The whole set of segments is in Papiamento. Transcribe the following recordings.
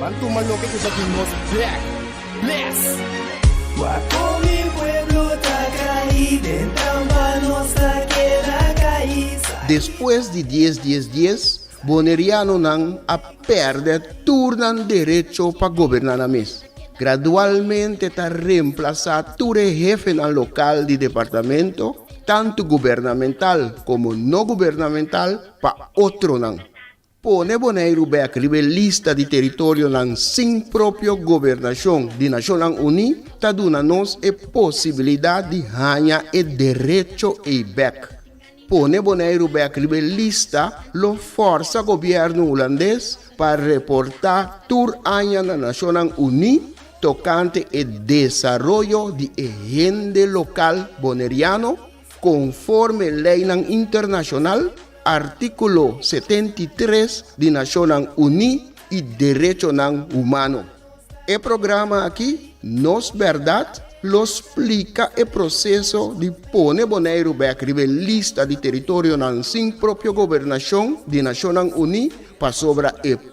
Ban tuma loke ku sa tin nos black bless. Guapo mi pueblo ta kai den trampa nos ta keda kai sai. Despues di dies dies dies bonerianonan a pèrdè tur nan derecho pa goberná nan mes. Gradualmente ta remplasá tur e hefenan lokal di departamento, tantu gubernamental komo no gubernamental, pa otronan. Pone Boneiru bek riba e lista di teritorionan sin propio gobernashon di Nashonnan Uní ta duna nos e posibilidat di haña e derecho ei bek. Pone Boneiru bek riba e lista lo fòrsa gobièrnu hulandes pa reportá tur aña na Nashonnan Uní tokante e desaroyo di e hende lokal boneriano, Konforme leinan internashonal, artíkulo setenta i tres di Nashonnan Uní i Derechonan Humano. E programa akí Nos Bèrdat lo splika e proseso di pone Boneiru bèk riba e lista di teritorionan sin propio gobernashon di Nashonnan Uní pasobra e.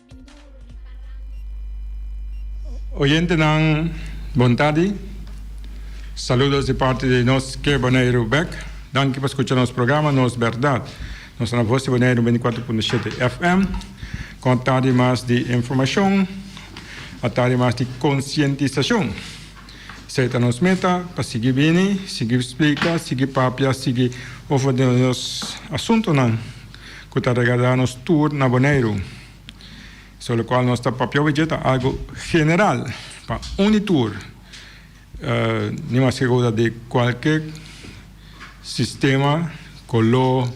Oyentenan bon tardi. Saludos di parti di nos Ke Boneiru bek. Danki pa skucha nos programa Nos Berdad. Nos ta na Voz di Boneiru bini kuater punto shete FM. Kon a tardi mas di informashon, a tardi mas di konsientisashon. Esei ta nos meta, pa sigui bini, sigui splika, sigui papia, sigui ofra di nos asuntunan cu ta regada nos tur na Boneiru. So locual nos ta papia ovechi ta algo general pa uni tur, ni mas ke cosa di cualke sistema, colo,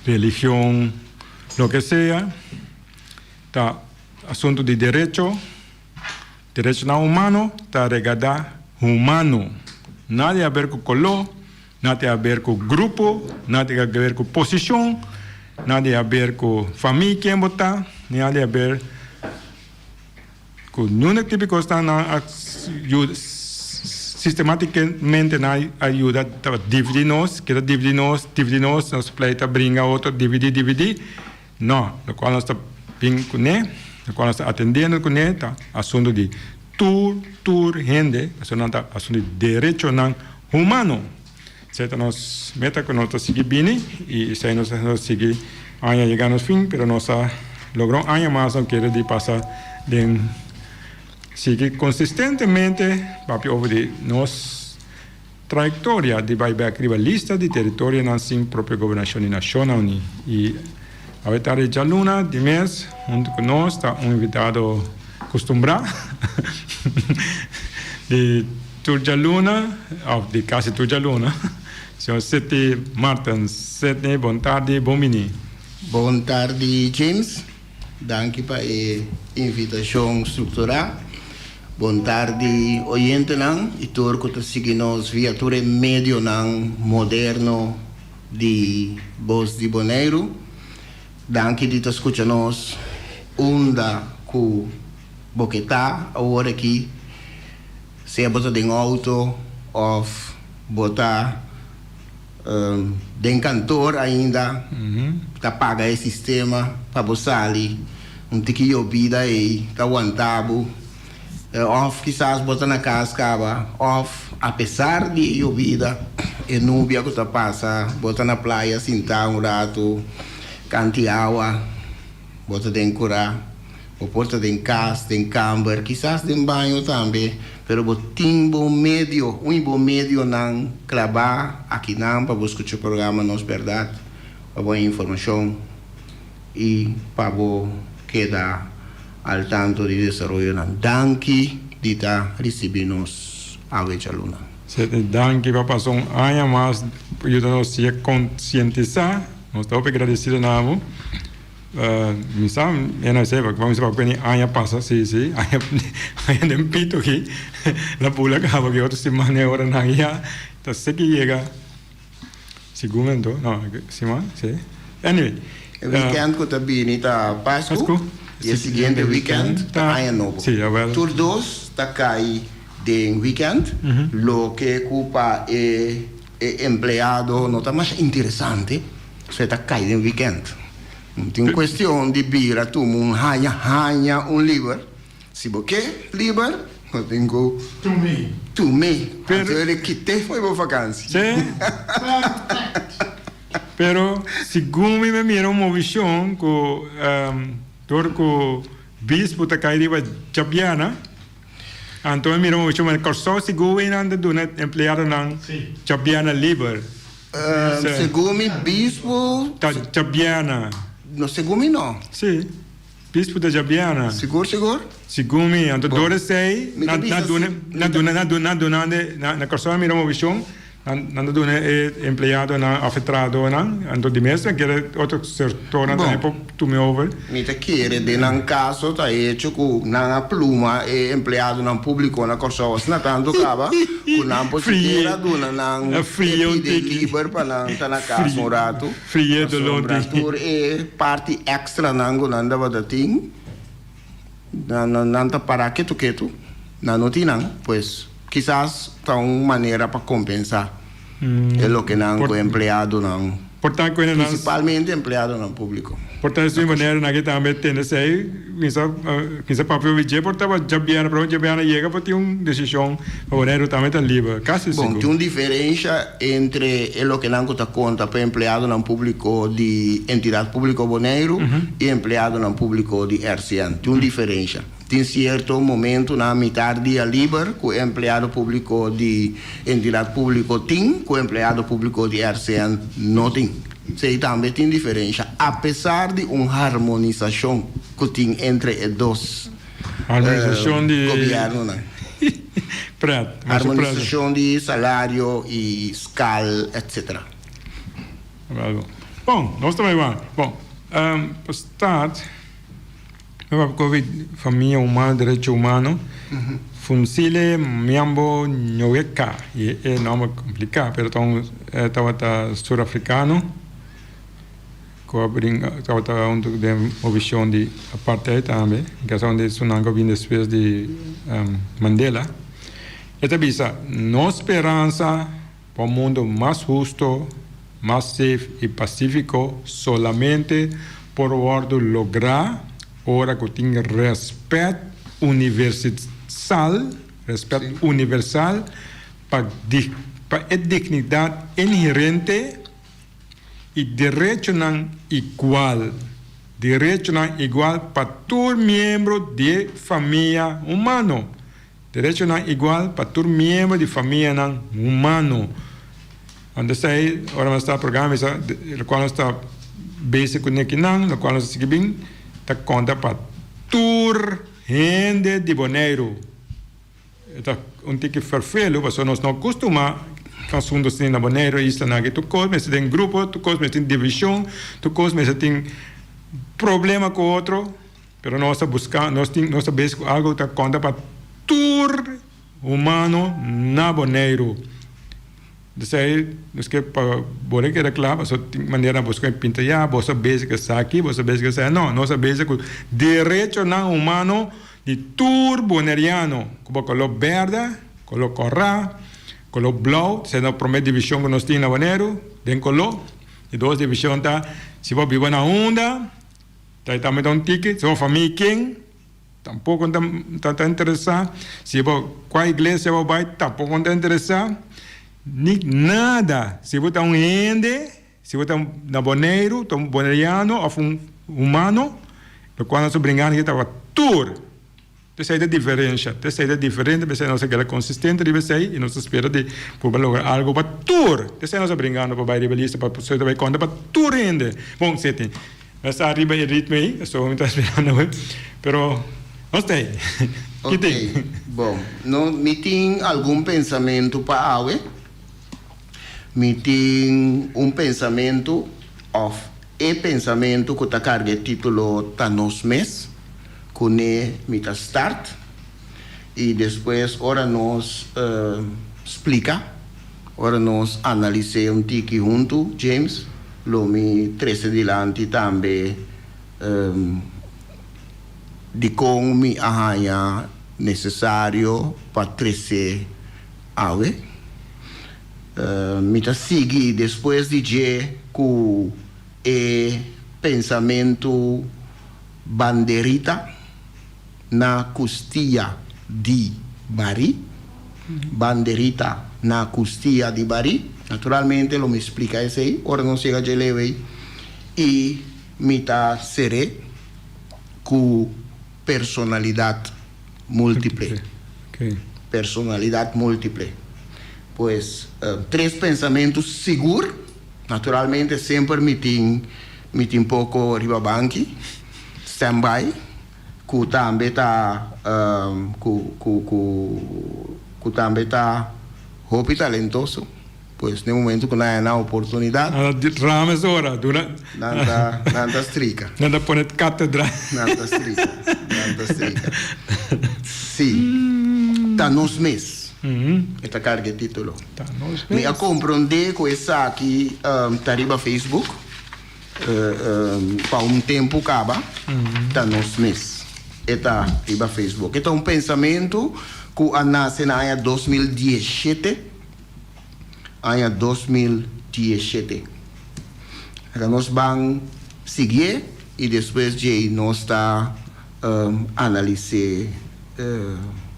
religion, loke sea, ta asuntu di derecho. Derechonan humano ta regadá humano. Na di haber ku koló, na di haber ku grupo, na di haber ku posishon, na di haber ku famia ken bo ta, ni na di haber ku ninguna tipo di kosnan. Nan a yuda sistematikamente nan a yuda ta dividí nos, keda dividí nos, dividí nos, nos pleita bringa otro dividí, dividí. No, locual nos ta bin cu ne, locual nos ta atendendo cu ne ta asunto di tur, tur hende, pasobra nan ta asunto di derechonan humano. Esey ta nos meta cu nos ta sigui bini y esey nos ta sigui aña yega nos fin, pero nos a logra un aña mas no kere di pasa den sigui consistentemente papia over di nos. Trayectoria di bai bek riba lista di teritorionan sin propio gobernashon di Nashonnan Uní. I awe tarde djaluna di mes huntu ku nos ta un invitado kustumbrá di tur djaluna òf di kasi tur djaluna, señor Seti Martens. Seti, bon tardi, bon bini. Bon tardi, James. Danki pa e invitacion structurá. Bon tardi oyentenan y tur cu ta sigui nos via tur e medionan moderno di Voz di Boneiru. Danki di ta scucha nos unda cu bo ke ta awor aki, sea bo ta den auto of bo ta. Den kantoor ainda ta paga e sistema pa bo sali un tiki yobida ei ta wanta bo of kisas bo ta na kas kaba of apesar di e yobida e nubia ku ta pasa bo ta na playa sinta un ratu kanti awa. Bo ta den kurá, bo por ta den kas, den kamber, kisas den baño tambe, pero bo tin bo medio, uni bo medionan klabá akinan pa bo skucha programa Nos Bèrdat, pa bo haña informashon i pa bo keda al tantu di desaroyonan. Danki di ta risibí nos awe djaluna. Sete, danki pa pasa un aña mas pa yuda nos siga konsientisá. Nos ta hopi gradecido na abo. Mi sa e na sepa, pa mi sepa cu ni aña pasa, si, si, aña, aña den pito aki, na bula caba aki otro siman e oranan ya ta seki yega, segun mi anto, no, siman, si, anyway. E weekend cu ta bini ta Pascu y e siguiente weekend ta aña nobo. Tur dos ta cay den weekend, loke cu pa e. E empleado no ta mas interesante, so e ta kai den wikènt. No tin kuestion di bira tumu un haña, haña un liber. Si bo ke liber, bo tin ku tumi antes bo di kit'é fo'i bo vakansi. Pero segun mi me mira un movishon ku dor ku bispu ta kai riba djapiana. Anto mi mira un ocho manera. Kòrsou sigur wen nan ta duna e empleadonan tjòpbiana liber. Segun mi bispu. Ta tjòpbiana. No, segun mi no. Sí, bispu ta tjòpbiana. Sigur sigur? Sigun mi, anto dor esei nan duna nan duna nan duna nan duna nan de na Kòrsou mi mira un movishon. Nan ta duna e empleadonan òf e trahadonan, anto di mes nan kere otro sektornan tambe por tume over? Bon, mi ta kere den nan kaso ta hecho ku nan a pluma e empleadonan públiko na Kòrsou asina tantu kaba ku nan por sikiera duna nan e pide liber pa nan ta na kas un ratu pasobra tur e parti èkstranan ku nan tabata tin. Nan ta para ketu ketu, nan no tin nan, pues kisas ta un manera pa kompensá e loke nan ku empleadonan, prinsipalmente empleadonan públiko. Por ta esei manera nan ke tambe tende esei, kinsha papia oví dje por tabata djabiera, pero djabiera na yega por tin un desishon. Obrero tambe ta liber, casi Bon, tin un sigur. diferencia entre e loke nan cu ta conta pa e empleadonan publico di Entidad Publico Boneiru y e empleadonan publico di RCN. Tin un diferencia. Tin cierto momentonan mitar dia liber cu e empleado publico di Entidad Publico tin cu e empleado publico di RCN no tin. Esey tambe tin diferencia, apesar di un harmonisacion cu tin entre e dos. Armonisashon di. Gobièrnunan. Prèt. Armonisashon di salario i skal etsetera. Wèl, bon, nos ta bai wak. Bon, pa start, mi papia koe famia human, derecho humano, funsile miambo ñoweka, i e nòmber kompliká, pero ta un, e tabata surafrikano. Cu a bring cauta hunto den obicion di apartheid tambe, en casa hunde su nan cu a bini despues di Mandela. E ta bisa, Nos speransa pa un mundo mas husto, mas safe y pacifico solamente por wordo logra ora cu tin respet universisal, respet universal, pa pa e dignidad inherente, i derechonan igual, derechonan igual pa tur miembro di e famia humano, derechonan igual pa tur miembro di famianan humano. Ora nos ta ei, ora nos ta programa esa, lokual nos ta bese ku nekinan, lokual nos ta sigui bin, ta konta pa tur hende di Boneiru. E ta un tiki ferfelu pasobra nos no custumá cu asuntu asina na Boneiru, islanan aki. Tur cos mester den grupo, tur cos mester tin divishon, tur cos mester tin problema cu otro. Pero nos ta buscá, nos tin, nos ta besi cu algu ta conta pa tur humano na Boneiru. P'esei nos ke pa bor e keda cla pasobra tin manera nan busca e pinta ya, boso ta besi cu esaki, boso ta besi cu esaki. No, nos ta besi cu derechonan humano. Di tur Boneriano cu bo color berde, color corra, color blauw, sey no prome division cu nos tin na Bonero, den color, e dos division ta, si bo biba na Hunda, ta e tambe ta un tiki, si bo famia ken, tampoco no ta ta interesa, si bo cua iglesia bo bay, tampoco no ta interesa, ni nada, si bo ta un hende. Si bo ta na Boneiru, ta un Boneriano of un humano, lo cual nos a bringa aki ta tur p'esey ta diferencia, p'esey ta diferente, p'esey nos a keda consistente riba esey y nos a spera di cu bo logra algo pa tur, p'esey nos a bringando pa bay riba e lista pa esey ta bay conta pa tur hende. Bon, si tin nos ta riba e ritmo ey, eso bo mi ta spera no bay, pero nos ta ey. Ki tin? Ok, bon, no, mi tin algun pensamento pa awe. Mi tin un pensamentu, òf e pensamentu ku ta karga e título Ta nos mes. Kuné mi ta start i despues ora nos splika, ora nos analis'é un tiki huntu, James, lo mi trese dilanti tambe dikon mi a haña nesesario pa trese. Awe, mi ta sigui despues di dje ku e pensamentu banderita na kustia di barí. Banderita na kustia di barí. Naturalmente lo mi splika esei ora nos yega dje leu ei. I mi ta ser'é ku personalidat. multiple, personalidad multiple. Pues tres pensamentu sigur, naturalmente semper mi tin mi tin poco riba banki, stand by, cu tambe ta cu cu cu cu tambe ta hopi talentoso. Pues den momento cu nan a na oportunidad. Nan ta rama es ora. Nan ta, nan ta strika. Nan ta pone catedra. Nan ta strika, nan ta strika. Si, ta nos mes. E ta carga e titulo. Ta nos mes. Mi a compronde cu esaki ta riba Facebook pa un tempo caba. Ta nos mes. E ta riba Facebook. E ta un pensamento cu a nace na aña dos mil diesshete. aña dos mil diesshete. Ora nos ban siguié y despues djei nos ta analisé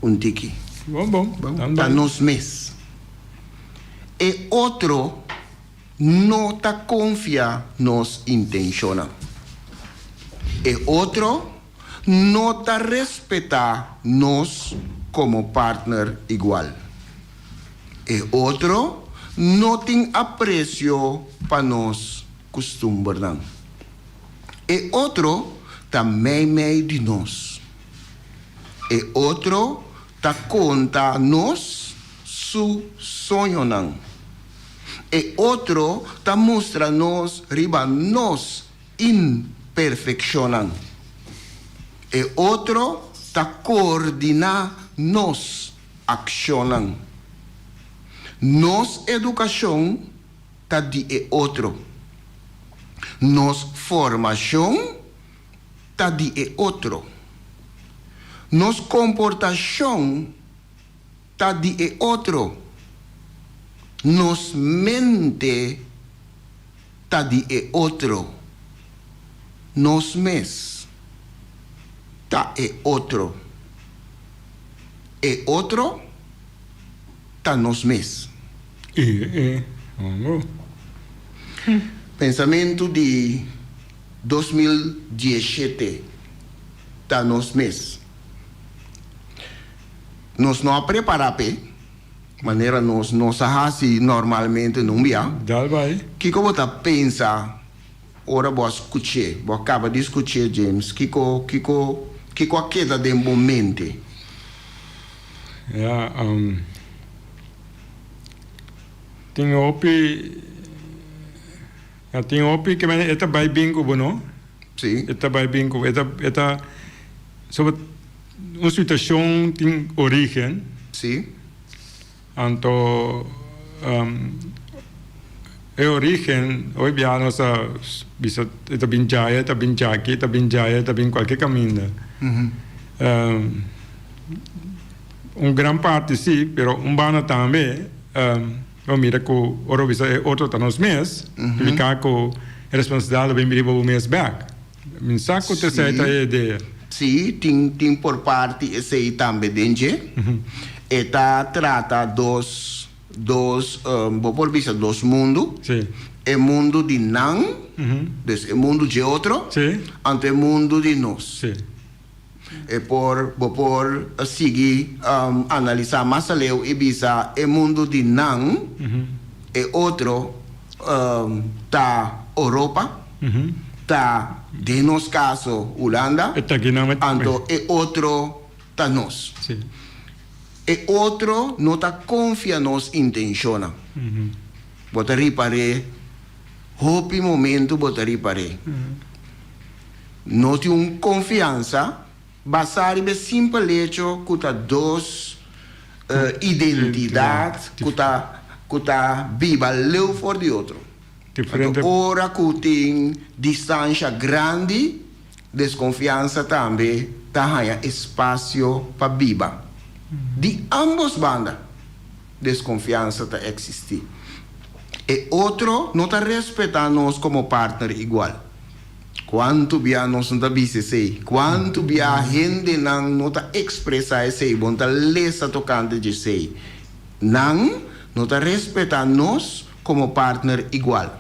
un tiki. Bon bon, nan bai. Pa nos mes. E otro no ta confia nos intencionnan. E otro. no ta respetá nos komo partner igual. E otro no tin apresio pa nos kustumbernan. E otro ta meimei di nos. E otro ta konta nos su soñonan. E otro ta mustra nos riba nos imperfeccionnan. E otro ta coordina nos accionnan. Nos educacion ta di e otro. Nos formacion ta di e otro. Nos comportacion Ta di e otro. Nos mente ta di e otro. Nos mes ta e otro. E otro ta nos mes. E e hongo. Pensamentu di dos mil dieshete ta nos mes. nos no a prepará p'e manera nos no sa hasi normalmente nun bia. Dal bai. Kiko bo ta pensa ora bo a skuch'é, bo a kaba di skuch'é James? Kiko, kiko, kiko a keda den bo mente? Ya, am, tin hopi, ya, tin hopi ke mester e ta bai bin ku bo, no? Sí. E ta bai bin ku bo. E ta, e ta, so bo. Un situashon tin origen. Sí. Anto e origen, oy biaha nos ta bisa e ta bin djaya, e ta bin djaki, e ta bin djaya, e ta bin kualke kaminda. Un gran parti sí, pero un banda tambe bo mira ku ora bo bisa e otro ta nos mes, signifika ku e responsabilidad lo bin riba bo mes bèk. Mi sa cu ta esey ta e idea. Sí, tin tin por parti esey tambe den dje. E ta trata dos dos, bo por bisa dos mundu. E mundu di nan, des e mundu dje otro, anto e mundu di nos. E por, bo por a sigui a analisá mas aleu i bisa e mundu di nan, e otro ta Oropa, ta den nos kaso Hulanda, anto e otro ta nos. E otro no ta konfia nos intenshonnan. Bo ta ripar'é Hopi momento bo ta ripar'é. No tin un konfiansa basá riba e simpel hecho ku ta dos identidat ku ta ku ta biba leu for di otro. Anto ora ku tin distansha grandi. Desconfiansa tambe ta haña espacio pa biba. Di ambos banda desconfiansa ta existi. E otro no ta respeta nos como partner igual. Cuanto bia nos no ta bisa esey? Cuanto bia hendenan no ta expresa esey? Bo no ta lesa tocante djesey. Nan no ta respeta nos como partner igual.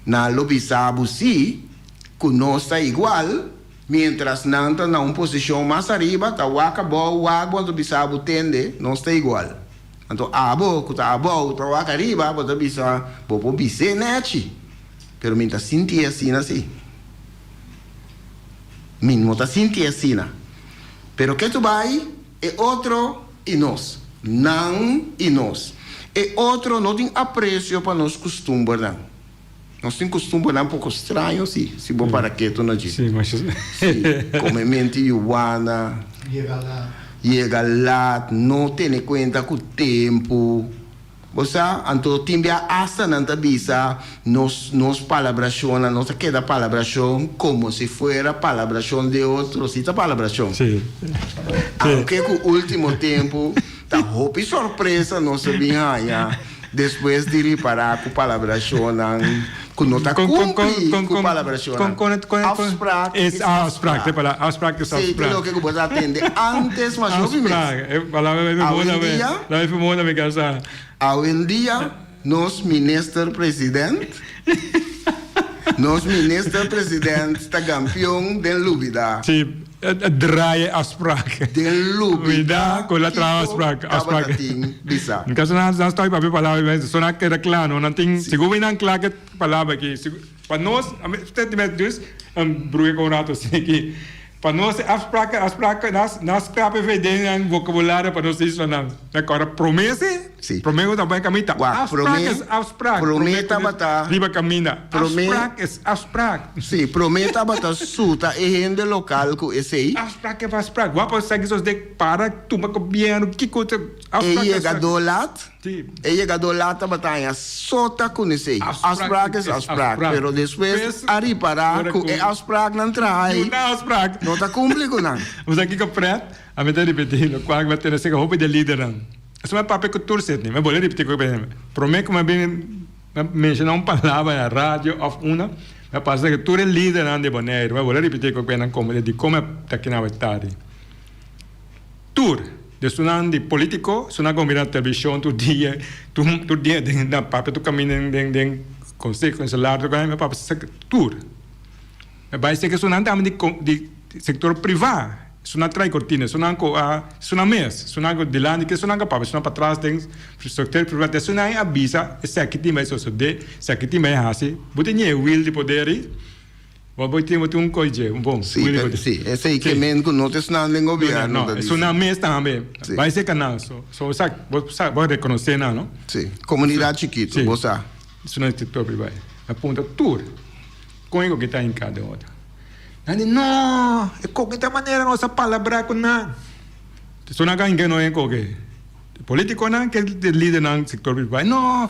Nan lo bisa bo si Ku nos ta igual, miéntras nan ta na un posishon mas ariba, ta wak abou, wak bo ta bisa bo tende, nos ta igual. Anto abo ku ta abou, ta wak ariba, bo ta bisa, bo por bis'é nèchi, pero mi ta sintié asina sí. Mi no ta sintié asina. Pero ke tu bai, e otro i nos, nan i nos. E otro no tin apresio pa nos kustumbernan. Nos tin custumbernan poco straño si, si bo para keto na djip. Sí, mas es. Sí, come mente yu wana. Yega lat. Yega lat, no tene cuenta cu tempo. Bo sa, anto tin bia hasta nan ta bisa nos, nos palabracionnan, nos ta keda palabracion como si fuera palabracion de otro, si ta palabracion. Sí. Aunke cu ultimo tempo. Ta hopi sorpresa nos a bin haña despues di ripará ku palabracionnan ku no ta kumpli ku palabracionnan. Afsprak is afsprak. Seiker loke ku bo ta atende ántes, mas hopi mes. Awendia. Awendia. Nos minister president Nos minister president ta gampion den lubida. Si, e draai e afspraak. Den lubida kiko tabata tin bisa. Kaso nan nan stòp papia palabra aki mester so nan keda kla no nan tin si gumi nan kla ke palabra aki si pa nos a mi tet di mes dus bruke kon un rato si aki. Pa nos e afspraken, afspraken, nas, nas krape vedennan, vocabulario pa nos islannan. Mira ku ora promé sí, Sí. promé ku ta bai kaminda ta Wak, afsprak promé, es afsprak. promé Promé ku tabata, nos riba kaminda. promé, Afsprak es afsprak. sí, promé tabata suta e hende lokal ku esei. Afsprak es afsprak. Wak por saki sos dek para, tuma gobièrnu, kiko ta, E afsprak es yega afsprak. do lat. E yegadó la tabata haña so ta kunesei. Afsprak es afsprak, pero despues a ripará ku e afspraknan traai no ta kumpli ku nan. Bo sa kiko prèt? Ami ta ripetí lokual mi a tene sega hopi di e lidernan. Esei mi a papia ku tur setni. Mi a bole ripetí ku e promé ku mi a bini, mi a menshoná un palabra na radio òf una, mi a pasa sega tur e lidernan di Boneiru. Mi a bole ripetí ku e nan komo di dikon mi a ta kina awe tardi. Tur desunan di politico su na gombi na television tur dia tur dia den na papia tur caminda den den conseho en celular tur caminda papia sa tur me bay seki esunan tambe di con di sector priva esunan traai cortina esunan cu a esunan mes esunan cu dilanti ke esunan cu a papia esunan patras den sector priva te esunan a bisa eseki tin bay sosode eseki tin bay hasi bo tin ñe wil di poderi. Bo bo tin bo tin un kos dje un bon si e si e seis ke men ku no ta esnan den gobièrnu ta disi. Esuna mes tambe bai se kanal so so sa bo sa bo rekonosé nan no si komunidat chikitu bo sa esuna e sektò pribado a punta tur kon e koke ta hinká den otro nan di no e koke ta manera nos a palabrá ku nan esuna a hinka no den koke e polítiko nan ke lidernan sektò pribado no.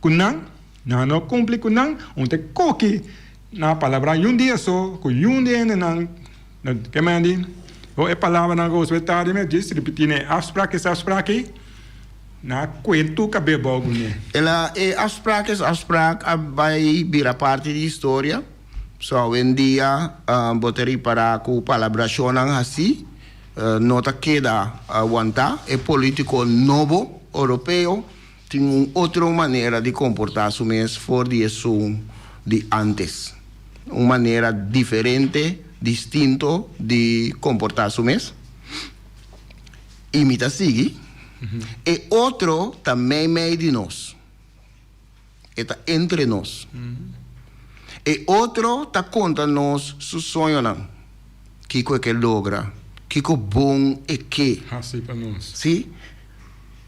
Ku nan, nan a no kumpli ku nan, un te koki na palabran yun dia so, ku yun di hendenan, na ke manera di ho e palabranan ku Josue ta di mi, djis ripití nan e afsprak ki esei afsprak aki, nan a kuer tur kabes bou ku mi. El a e afsprak es afsprak a bai bira parti di historia, so awendia bo ta ripará ku palabrashonnan hasí no ta keda wantá. E polítiko nobo oropeo. Tin un otro manera di comporta su mes for di e sun di antes. Un manera diferente, distinto di comporta su mes. Y mi ta sigui, E otro ta mei mei di nos. E ta entre nos. E otro ta conta nos su soñonan. kiko e ke logra, kiko bon e ke hasi pa nos. Sí,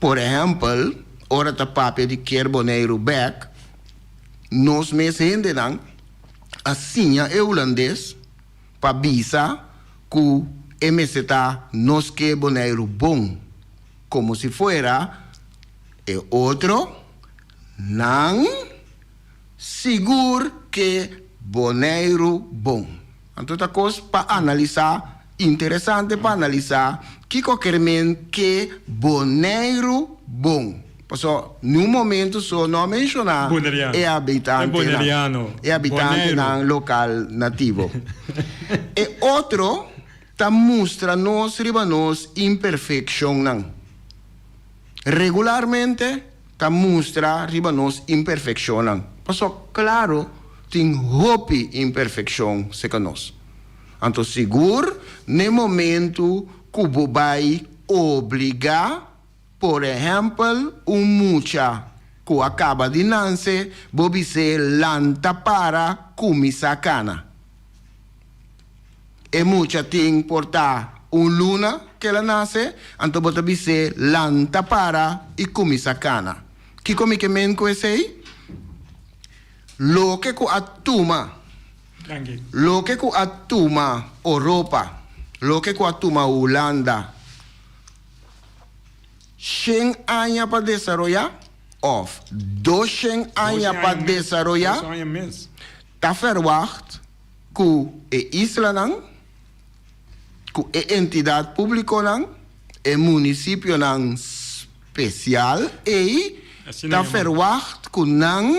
por ehèmpel, ora ta papia di kier Boneiru bèk, nos mes hendenan a siña e hulandes pa bisa ku e mester ta nos ke Boneiru bon, komo si fuera e otro nan. Sigur ke Boneiru bon. Anto ta kos pa analisá, interesante pa analisá kiko ker men ke Boneiru bon. Pasó n'un momentu so no a menshoná e abitantenan, e abitantenan lokal nativo. E otro ta mustra nos riba nos imperfekshonnan. Regularmente ta mustra riba nos imperfeccionnan, pasobra claro tin hopi imperfeccion seca nos. Anto sigur n'e momento cu bo bay obliga, por ehempel, un mucha cu a caba di nance, bo bis'é lanta para cuminsa cana. E mucha tin por ta un luna ku el a nase, anto bo ta bis'é, Lanta, para i kuminsá kana. Kiko mi ke men ku esei? Loke ku a tuma, loke ku a tuma Oropa, loke ku a tuma Hulanda, shen aña pa desaroyá òf dos shen aña pa desaroyá, ta ferwagt ku e islanan, ku e entidat públikonan, e munisipionan spesial ei ta ferwagt ku nan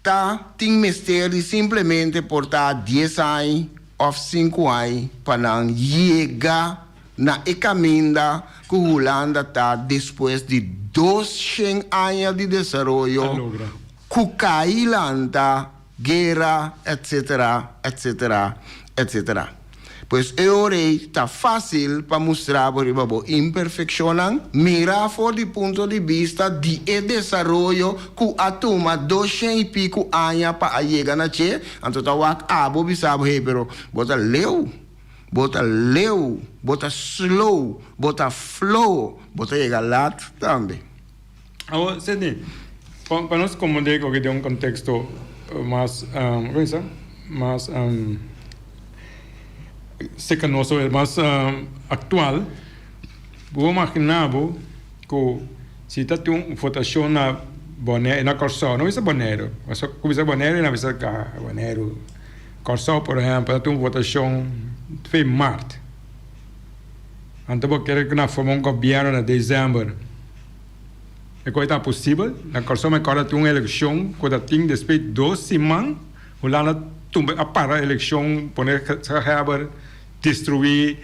ta tin mester di simplemente portá dies ai òf sinku ai pa nan yega na e kaminda ku Hulanda ta despues di dos shen aña di desaroyo ku kai lanta guera, etc. Etc. Etc. Pues e ora ei ta fácil pa mustra bo riba bo imperfeccionnan, mira for di punto di bista di e desaroyo cu a tuma doshen y pico aña pa a yega na che, anto ta wak abo bisa bo, hey, pero bo ta leu, bo ta leu, bo ta slow, bo ta flow, bo ta yega lat tambe. Awor, se di, pa, pa nos komondé koke den un konteksto mas, um, kome sa, mas um, sekanoso, mas um, aktual, bo imaginá bo ku si ta tin un votashon na Bonè, na Kòrsou, no bisa Bonèru, paske ku bisa Bonèru e na bisa ka, Bonèru, Kòrsou por ehèmpel, ta tin un votashon fe mart, anto bo kere ku na forma un gobièrnu na desèmber. E kos ta posibel na Kòrsou me kòrda tin un elekshon ku ta tin despues di dos siman Hulanda tumbe a para elekshon pone gezaghèber destruí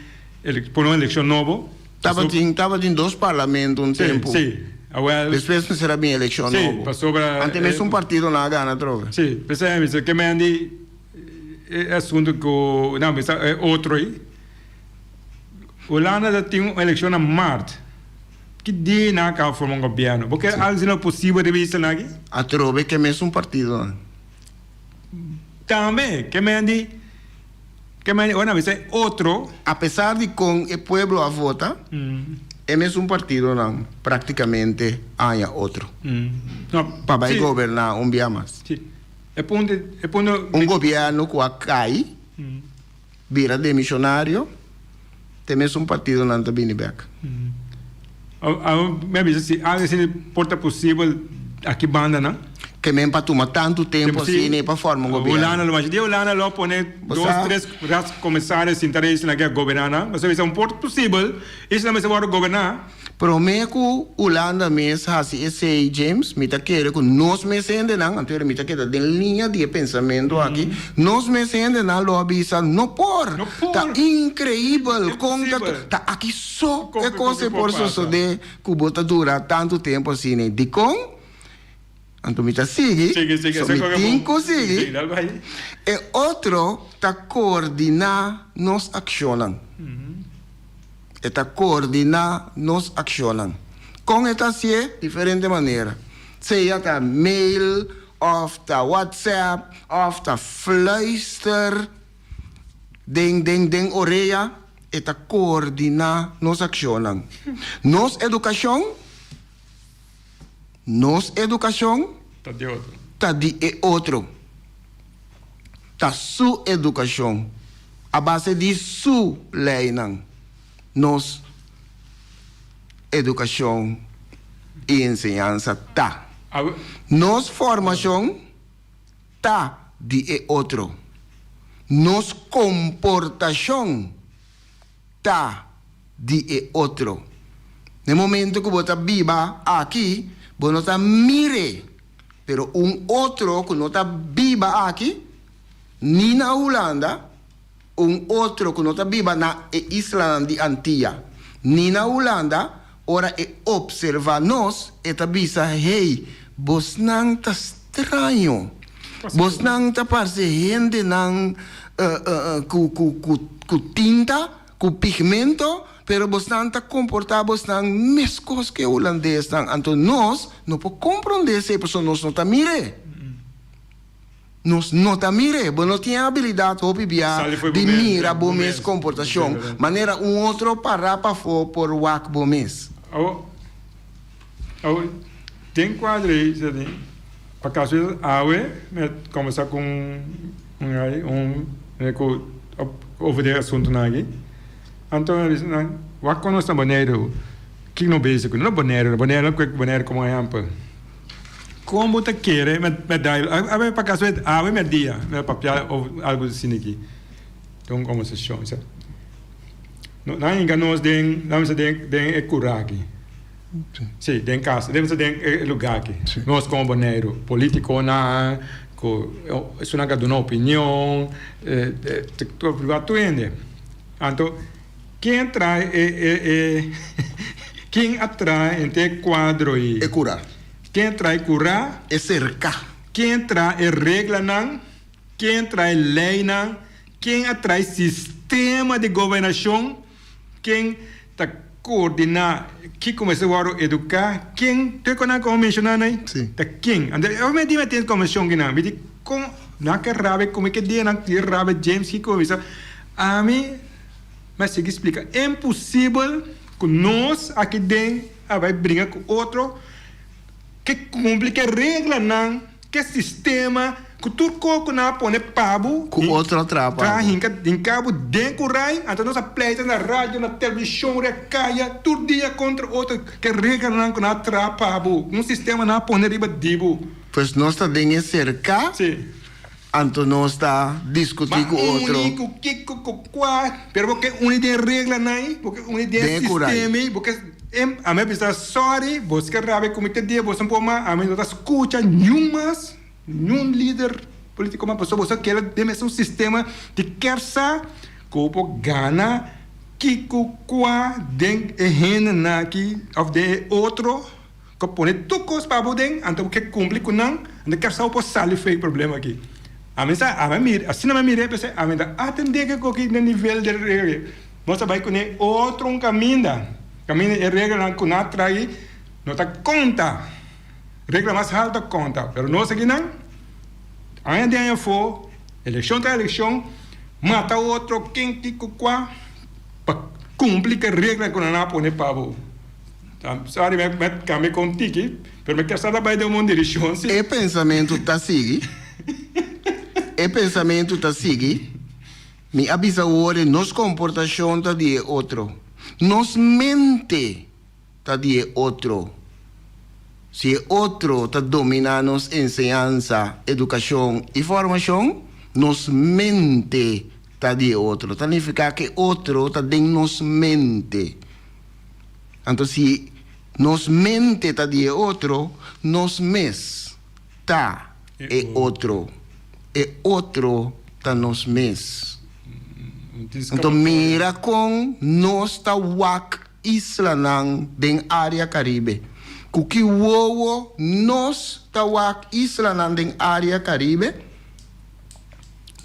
pone un elekshon nobo Tabatin tabatin dos parlamento un tempu si awel despues mester a bin elekshon nobo si pasobra ante mester un partido nan a gana atrofe si p'esei mi ta kemen di e asuntu ku nan bisa e otro ei Hulanda ta tin un elekshon na Mart. Ki dei nan a caba forma un gobierno? Bo kier algo si lo posible riba isla nan aki? Atrobe ke mesun partidonan. Tambe ke men di ke men di ora nan bisa e otro. Apesar di kon e pueblo a vota, e mesun partidonan practicamente a haña otro pa bai goberna un bia mas. Un gobierno cu a cai. Bira demisionario, te mes un partidonan ta bini bek. Abo me bisa si algo asina por ta posibel aki banda nan? Ke men pa tuma tantu tempu asina Tempu si. pa forma un gobierno. Hulanda lo masha. Di Hulanda lo pone Bo dos sa. tres rats comisario sinta rei esnan ke a goberna nan. Bo sa bisa un por ta posibel esnan mester wòrdu goberna? Promé ku Hulanda mes hasi esei, James, mi ta kere ku nos mes hendenan, anto era mi ta keda den liña di e pensamentu aki, nos mes hendenan lo a bisa, No por! Ta inkreibel kon ta tur. Ta aki so e kos e por sosodé ku bo ta dura tantu tempu asina. Dikon? Anto mi ta sigui, so mi tin ku sigui. E otro ta koordiná nos akshonnan. E ta koordiná nos akshonnan. Kon e ta hasié? Diferente manera. Sea ta mail òf ta whatsapp òf ta fluister den, den, den orea, e ta koordiná nos akshonnan. Nos edukashon. Nos educacion ta di e otro. Ta su educacion. A base di su leynan nos educacion y enseñansa ta. Nos formacion ta di e otro. Nos comportacion. ta di e otro. Na e momento ku bo ta biba aki, bo no ta mir'é, pero un otro ku no ta biba aki, ni na Hulanda, un otro ku no ta biba na e islanan di Antia, ni na Hulanda, Ora e opserva nos, e ta bisa, Hey, bosnan ta straño. Bosnan ta parce hendenan cu tinta, cu pigmento, pero bosnan ta comporta bosnan mescos cu e Hulandesnan. Anto nos no por comprende esey, pasobra nos no ta mir'e. Nos no ta mira e. Bo no tin e abilidad hopi bia di mira bo mes comportacion, manera un otro para pafó por wak bo mes. Awo, awo, den cuadro ei, sa tin, pa caso esas awe mi a conversa cu un, un ai, un mira cu over e asuntonan aki, anto mi a bisa nan, wak con nos na Boneiru, ki no bezig cu nos? No Boneiru, Boneiru, lo cuec Boneiru como ehempel. Kon bo ta kere m'a dai awe pa kaso e awe m'a dia m'a papia òf algu sin aki? Ta un kòmbersashon sa. No nan hinka nos den, lamis a den den e kura aki. Si, den kas, lamis a den e lugá aki. Nos komo Boneiru, politikonan ku esunaka duna opinion, ta preokupá tur hende. Anto. Kin a traha e e e Kin a traha henter e kuadro i. E kura. Kin a traha e kura. E serka. Kin a traha e reglanan. Kin a traha e leinan. Kin a traha e sistema di gobernashon. Kin ta koordiná kiko mester wòrdu eduká. Kin tur kos nan ku Bo menshoná nan ei. Sí. Ta kin. Anto ora mi a dina atentu ku konveshon kinan mi di kon nan ke rabia komo i ke dia nan ke rabia James kiko bo bisa ami. Mi a sigui splika, E imposibel ku nos aki den a bai briga ku otro ke kumpli ke reglanan, ke sistema ku tur kos ku nan a pone pa bo ta hinka hinka bo den kurai. Anto nos a pleita na radio, na televishon, riba e kaya tur dia kontra otro ke reglanan ku nan a traha pa bo, ku un sistema nan a pone riba di bo. Pues nos ta den e serka. Si. Anto nos ta diskutí ku otro. Uni ku kiko, ku kua. Pero bo ke uni den reglanan ei, bo ke uni den e sistema ei, bo ke em. Ami a bisa sòri, bos ke rabia ku mi te dia, boso por mas ami no ta skucha niun mas, niun lider politiko mas pasobra boso a kere den mesun sistema di kèr sa ku bo por gana kiko, kua den e hendenan aki òf den e otro. Cu pone tur cos pa bo den, anto bo kier cumpli cu nan, anto kier sa bo por sali fuey e problema aki. Ami sa, ami a mira, asina mi a mira e p'esei ami ta atende cu cu aki na nivel di e regla, nos a bay cune otro un caminda, caminda e reglanan cu nan a trahi no ta conta, regla mas halto a conta, pero nos akinan, aña den aña afo, eleccion tra eleccion, mata otro ken, ki, cu, cua, pa cumpli cu e regla cu nan a pone pa bo. Sorry me me cambia con tiki pero me kier sa ta bay den bon direccion si. E pensamentu ta sigui, e pensamentu ta sigui, mi a bisa worde nos comportacion ta di e otro, nos mente ta di e otro, si e otro ta domina nos enseñansa, educacion y formacion, nos mente ta di e otro, ta nifica cu e otro ta den nos mente. Anto si nos mente ta di e otro, nos mes ta e otro, e otro ta nos mes. Anto mira con nos ta wak islanan den area Caribe. Cu ki wowo nos ta wak islanan den area Caribe?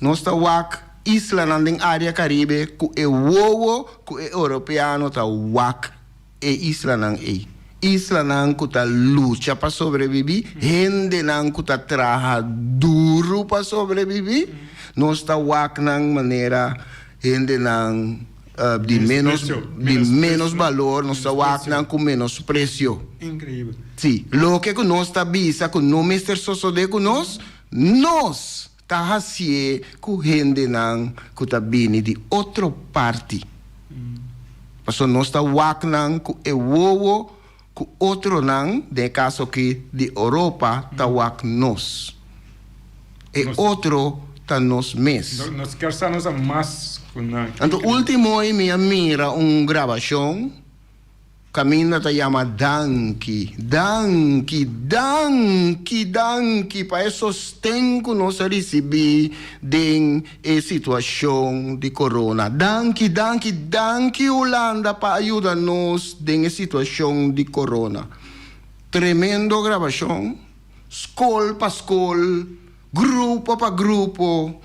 Nos ta wak islanan den área Karibe ku e wowo ku e Europeano ta wak e islanan ei. Islanan ku ta lucha pa sobrebibí, hendenan ku ta traha duru pa sobrebibí, nos ta wak nan manera hendenan di ménos di ménos balor, nos ta wak nan ku menospresio. Sí, loke ku nos ta bisa ku no mester sosodé ku nos. Nos ta hasié ku hendenan ku ta bini di otro parti. Pasobra nos ta wak nan ku e wowo ku otronan, den e kaso aki di Oropa, ta wak nos. E otro ta nos mes. Nos kier sa nos a mas ku nan. Anto, último hoy mi a mira un grabashon. Caminda ta yama danki, danki, danki, danki pa e sosten cu nos a ricibi den e situacion di corona. Danki, danki, danki Hulanda pa ayuda nos den e situacion di corona. Tremendo grabacion, scol pa scol. Grupo pa grupo,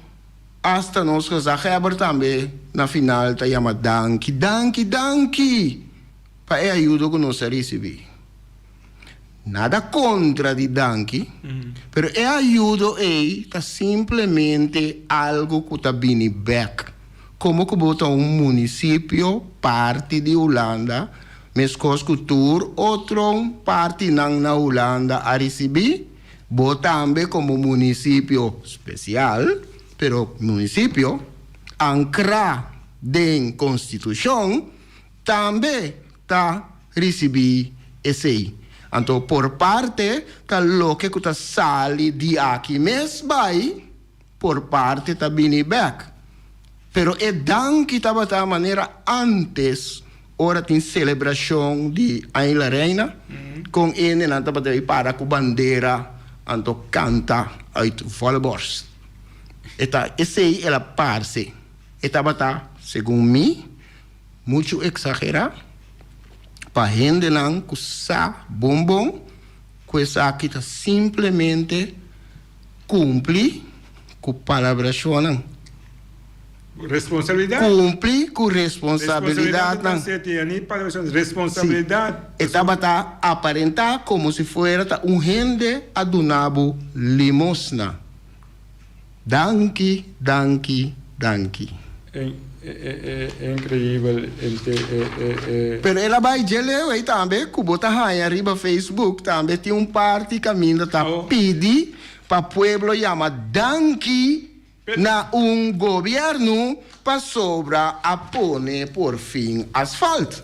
asta nos gezagheber tambe na final ta yama danki, danki, danki pa e ayudo ku nos a risibí. Nada kontra di danki, pero e ayudo ei ta simplemente algu ku ta bini bèk. Komo ku bo ta un munisipio parti di Hulanda, meskos ku tur otro partinan na Hulanda a risibí? Bo tambe komo munisipio spesial, pero munisipio, ankra den konstitushon, tambe ta risibí esei. Anto por parte ta loke ku ta sali di aki mes bai. Por parti ta bini bek, pero e danki tabata manera antes ora tin celebracion di Aña La Reina, con hendenan tabata bay para cu bandera anto canta uit volle borst. E ta esey el a parce. E tabata, segun mi, muchu exagera pa hendenan cu sa bonbon cu esaki ta simplemente Kumpli ku palabrashonnan. Responsabilidat. Kumpli ku responsabilidatnan. Si e tabata aparentá komo si fuera ta un hende a duna bo limosna. Danki, danki, danki. E increíbel ente e. Pero el a bai dje leu ei tambe cu bo ta haña riba Facebook tambe tin un parti caminda ta pidi pa pueblo yama danki na un gobierno pasobra a pone por fin asfalt.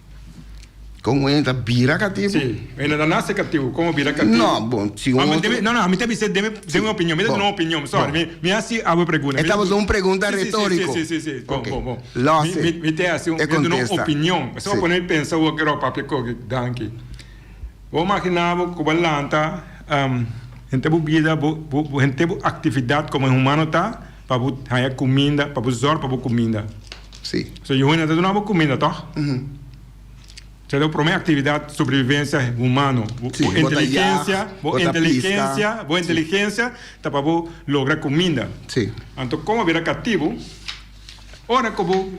Kon un hende ta bira katibu? Sí. E no ta nase katibu, kon bo bira katibu? No, bon, si un otro. No, no, mi ta bisa, deme un opinion, mi ta duna un opinion, sorry, mi hasi awe pregunta. E tabata un pregunta retoriko. Sí, sí, sí, sí, bon, bon, bon. Lo hasi, e contesta. Mi ta duna un opinion, mi ta pone mi pensa awor ke Rob papia koke. Danki. Bo magina bo ku bo a lanta, henter bo bida, bo, bo, henter bo actividad komo e humano ta, Pa bo haya cuminda, pa bo zorg pa bo cuminda. Sí. So e hunda ta duna bo cuminda, toch? Esei ta bo prome actividad sobrevivencia humano. Bo Sí, bo ta yag, inteligencia, bo bo ta inteligencia, pisca. bo Sí. inteligencia ta pa bo logra cuminda. Sí. Anto con bo a bira cativo, ora cu bo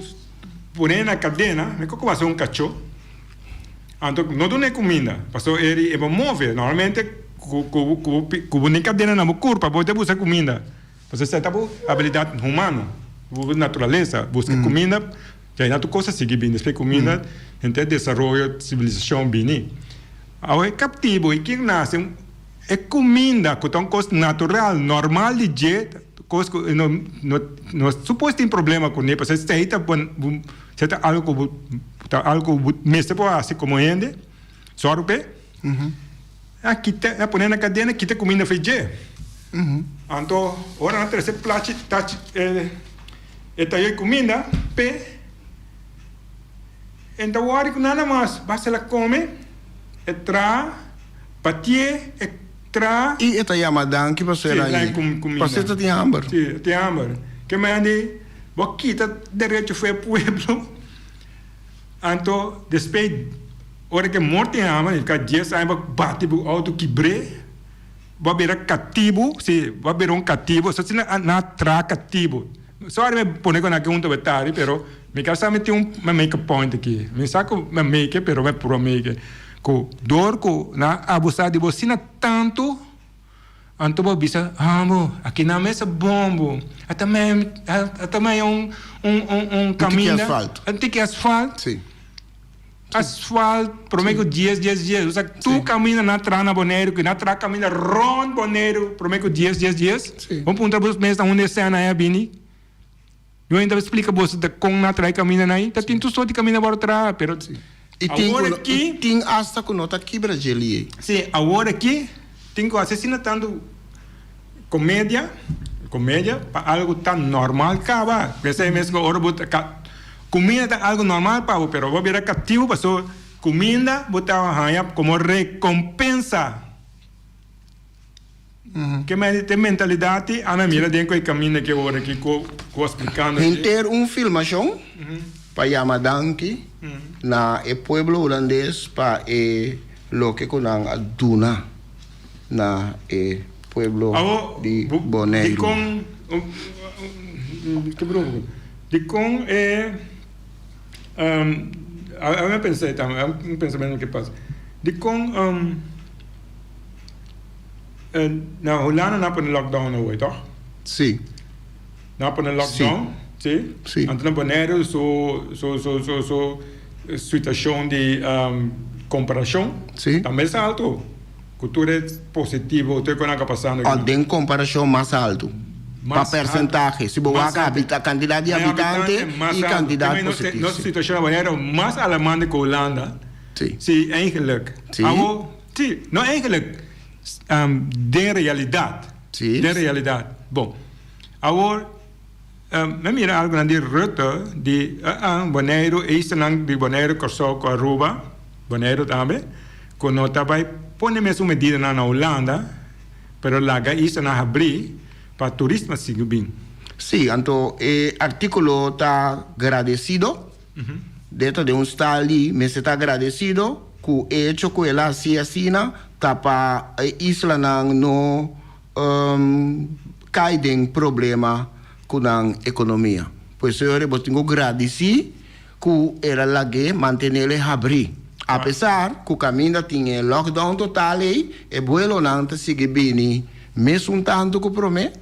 pone na cadena, me cu cu bo haci un cacho, anto no duna e cuminda, pasobra e ri e bo move. Normalmente cu cu cu bo pi cu bo ne cadena na bo curpa bo te busca cuminda. Nos a seta bo habilidad humano, bo naturalesa, bo busca cuminda, ya y nan tur cosa sigui bini. Despues cuminda henter desaroyo, civilisacion bini. Awe e captivo y ken nace, e cuminda cu ta un cos natural, normal di dje, cos cu e no no suppose tin problema cune, pasobra esey ta bo sey ta algo cu bo ta algo cu bo mester por haci como hende. Sòru p'e a kita, a pone na kadena, a kita kuminda fei dje. Anto, ora nan trese plachi, tachi, e, e tayoi kuminda p'e, e ta wòri ku nada mas. Basta el a kome, e traha, pati'é, e traha. I e ta yama danki pasera i pas'e ta tin hamber. Sí, e tin hamber. Ke manera di bo kita derecho f'e pueblo? Anto despé ora ke mor tin hama i ka dies aña bo a bati bo outo kibr'é bo a bira katibu si bo a bira un katibu so asina nan a tra katibu sòri mi pone kua nan ke hunta bo tari pero mi ka sa mi tin un mi make a point aki mi sa ku mi a make pero mi a puru a make ku dor ku nan a abusa di bo asina tantu. Anto bo a bisa, Ah bo, aki nan mes ta bon bo. A ta maya, a ta maya un, un, un, un kaminda. Un tiki asfalt. Un tiki asfalt. Sí. Asfalt, prome ku dies, dies, dies. Esa tur kaminda na tra na Boneiru, ku na tra kaminda rònt Boneiru, prome ku dies, dies, dies. Sí. Bo puntra bos mes, ta unda e sèna ei a bini? Lo inta splica boso ta con na trae camina na y ta tin tu soti camina baro traha pero awor aki. Y tin hasta cu no ta kibra jel y ey. Si, awor aki tin cu hace asina tanto comedia, comedia pa algo ta normal caba. P'esey mes cu ora bo ta ca, cuminda ta algo normal pa bo pero bo a bira cativo pasobra cuminda bo ta haña como recompensa. Ke mester te mentalidad tin? Ana mira den cu e caminda ke ora aki cu a splicando aki. Henter un filmacion pa yama danki na e pueblo Hulandes pa e loke cu nan a duna na e pueblo di Boneiru. Dicon e, a mi a pensa e tambe, a un pensamentonan ke pasa. Dicon. Eh, na Hulanda na pone lockdown awor, toch? Sí. Na pone lockdown, sí. Sí. Antes na Bonaire su su su su su situación di um, comparación. Sí. Ta mes alto. Cu tur e positivo, tur e conan ca pasando aquí. Oh, den comparación mas alto. Mas pa percentaje. Alto. Si bo wak habita, cantidad di habitante y cantidad positivo. Nos situación na Bonaire mas alarmante cu Hulanda. Sí, eigenlijk. Awo, sí, no eigenlijk, den realidat, den realidat. Bon, awo, me mira algonan di Rutte di Boneiru, eisennan di Boneiru, Kòrsou ku Aruba, Boneiru tambe, ku no ta bai pone mes un medidanan na Hulanda, pero laga eisennan habrí pa turismo sigui bin. Sí, anto e artíkulo ta gradesido. Dje ta den un stal di mester ta agradecido cu e hecho cu el a haci asina ta pa e islanan no cay den problema cu nan economia. Por eso yo riba tin cu gradici cu el a lag'e mantenel e habri. Apesar cu caminda tin e lockdown total ey, e vuelonan ta sigui bini mes un tanto cu prome.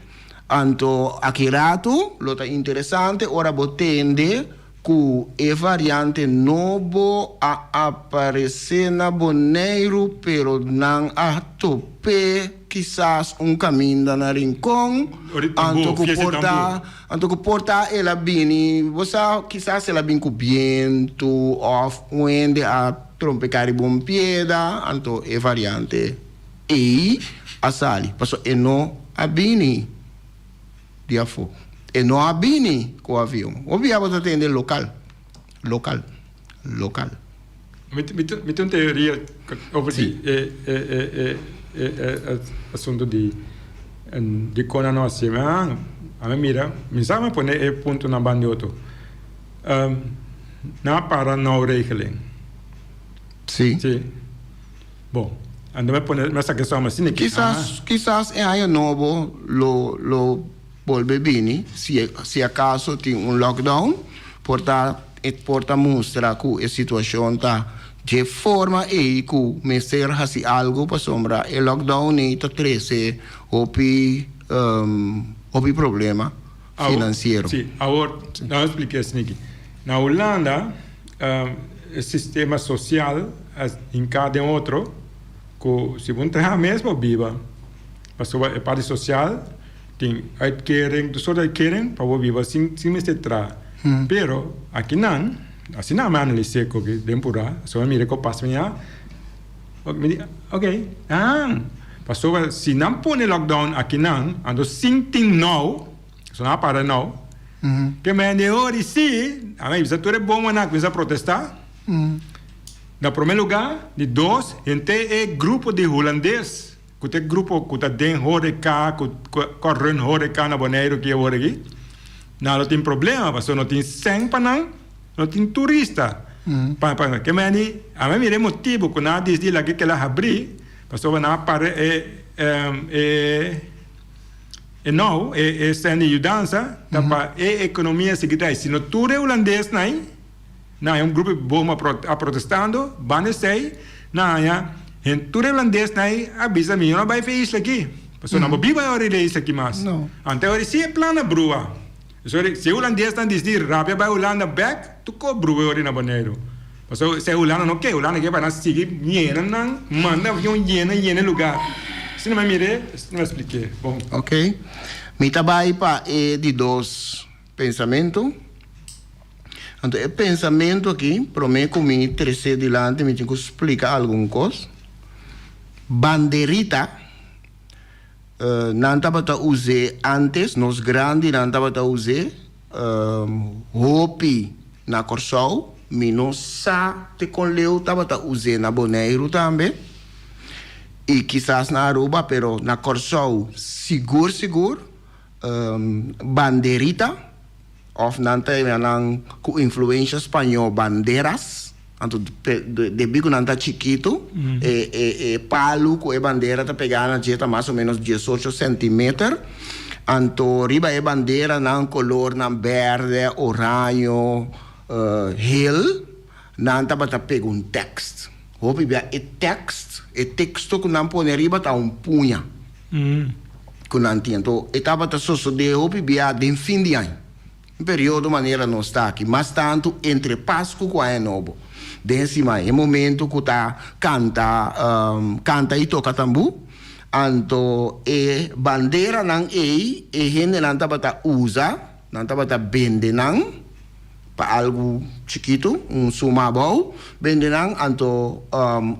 Anto aki ratu lo ta interesante ora bo tende ku e variante nobo a aparesé na Boneiru pero nan a top'é kisas un kaminda na Rincon anto ku por ta anto ku por ta el a bini bo sa kisas el a bin ku bientu òf un hende a trompekari bo un pieda anto e variante. Ei a sali, pasobra e no a bini di afó. E no a bini ku avion. Hopi abo ta tende lokal, lokal, lokal. Mi ta un teoria over di e asuntu di dikon a no hasié. Mi a mira, mi sa mi a pone e puntonan bandioto. Nan a para Noorregeleng. Si. Bo, anda me pone, me saca e soma asina aki, ah. Kisas e aña nobo lo bolbe bini, si acaso tin un lockdown, por ta e por ta mustra cu e situacion ta dje forma ey cu mester haci algo pasobra e lockdown ey ta trece hopi hopi problema. finansiero. Sí, awor nan lo spliká esei aki. Na Hulanda e sistema sosial a hinká den otro ku si bo no traha mes bo biba. Pasobra e parti sosial tin uitkering, tur sort uitkering pa bo biba sin mester traha. Pero aki nan, asina mi analis'é den purá, asina mi mira ku a pasa miá. Mi di, ok, han. Pasobra si nan pone lockdown akinan, anto sin tin nou, so nan a para nou, ke mi hende e ori si, a mi bisa tur e bomanan a kuminsá protestá, na promé lugá, di dos, henter e grupo di hulandes. Cu ta e grupo cu ta den horeca, cu ta run horeca na Boneiru ki e hora aki? Nan lo tin problema pasobra no tin seng pa nan, no tin turista pa nan. Kema yani ame a mira e motibu cu nan a disdi laki kela habri pasobra nan a para e e nou e e sende yudansa ta pa e economia sigui drai. Si no tur e hulandes nai. nan e un grupo di bobo mapro a protestando banda esei nan haña hende tur Irlandes nan a bisa mi yo no a bai for e isla aki pasobra nan bo biba ahora riba e isla aki mas ante ahora si e plan a brua esori si e Hulandes nan disi rapia bai Hulanda bek toko brua ahora na Boneiru pasobra esei Hulanda no ke Hulanda ke pa nan sigui miera nan manda avion yena yena e lugar si no mi a mira e si no mi a splikié bon. Oke mi ta bai pa e di dos. Pensamentu. Anto e pensamentu aki, promé ku mi tres'é dilanti mi tin ku splika algun kos. Banderita, nan tabata us'é ántes, nos grandinan tabata us'é hopi na Kòrsou, mi no sa te kon leu tabata us'é na Boneiru tambe i kisas na Aruba, pero na Kòrsou sigur sigur. Banderita, of nan ta yama nan ku influensha spañó banderas, anto debí ku nan ta chikitu e palu ku e bandera ta pegá na dje ta mas o ménos diesocho sentimeter, anto riba e bandera nan kolornan bèrdè, oraño, hel, nan tabata pega un tèkst. Hopi bia e tèkst, e teksto ku nan pone riba ta un puña. ku nan tienta. E tabata sosodé hopi biaha den fin di aña, un periodo manera nos ta aki, mas tantu entre Pasku ku Aña Nobo. Den e siman, e momentu ku ta kanta kanta i toka tambú. Anto e banderanan ei e hendenan tabata usa, nan tabata bende nan pa algu chikitu, un suma abou, bende nan. Anto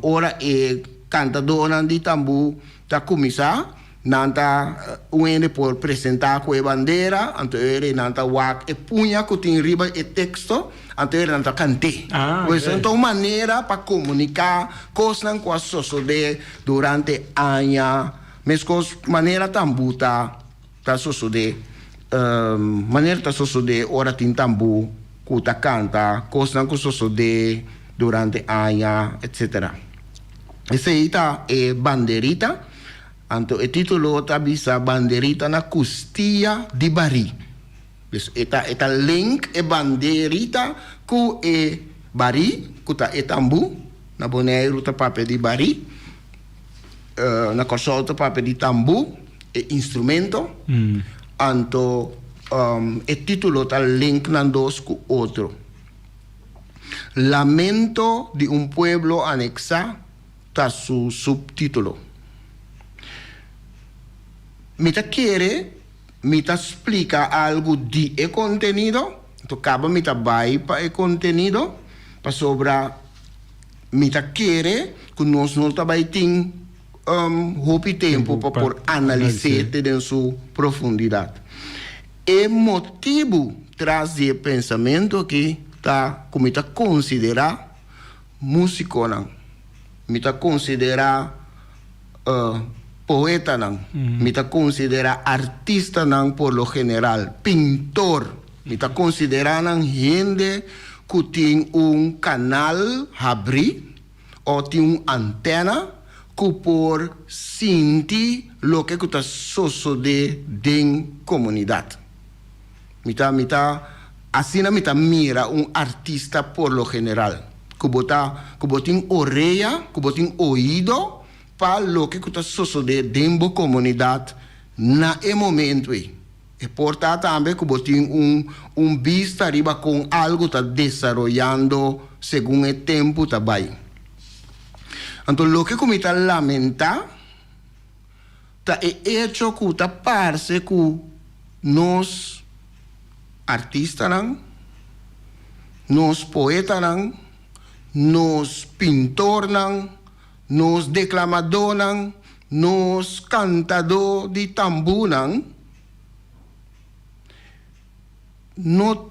ora e kantadonan di tambú. Ta kuminsá, nan ta un hende por presentá ku e bandera, anto ora nan ta wak e puña ku tin riba e teksto, anto ora nan ta kant'é. Ku esei ta un manera pa komuniká kosnan ku a sosodé durante aña, meskos manera tambu ta. Ta sosode, manera ta sosode ora tin tambu ku ta kanta kosnan ku sosode durante aña, etc. Esei ta e banderita, anto e titulo ta bisa Banderita na Kustia di Barí. Dus e ta e ta link e banderita ku e barí, ku ta e tambu. Na Boneiru ta papia di barí. Na Kòrsou ta papia di tambú, e instrumento, anto e título ta link nan dos ku otro. Lamento di un pueblo aneksá ta su subtítulo. Mi ta kere mi ta splika algu di e kontenido, anto kaba mi ta bai pa e kontenido pasobra. Mi ta kere ku nos no ta bai tin hopi tempu pa por analis'é te den su profundidat. E motibu tras di e pensamentu akí ta ku mi ta konsiderá músikonan, mi ta konsiderá poetanan, mi ta konsiderá artistanan por lo general, pintor. Mi ta considera nan hende cu tin un canal habri o tin un antena cu por sinti loke cu ta sosode den comunidad. Mi ta mi ta asina mi ta mira un artista por lo general, cu bo ta cu bo tin orea, cu bo tin oido pa loke cu ta sosode den bo comunidad na e momento ey. E por ta tambe ku bo tin un un bista riba kon algu ta desaroyando segun e tempu ta bai. Anto loke ku mi ta lamentá ta e echo ku ta parse ku nos artistanan, nos poetanan, nos pintornan, Nos deklamadónan, nos kantadó di tambúnan no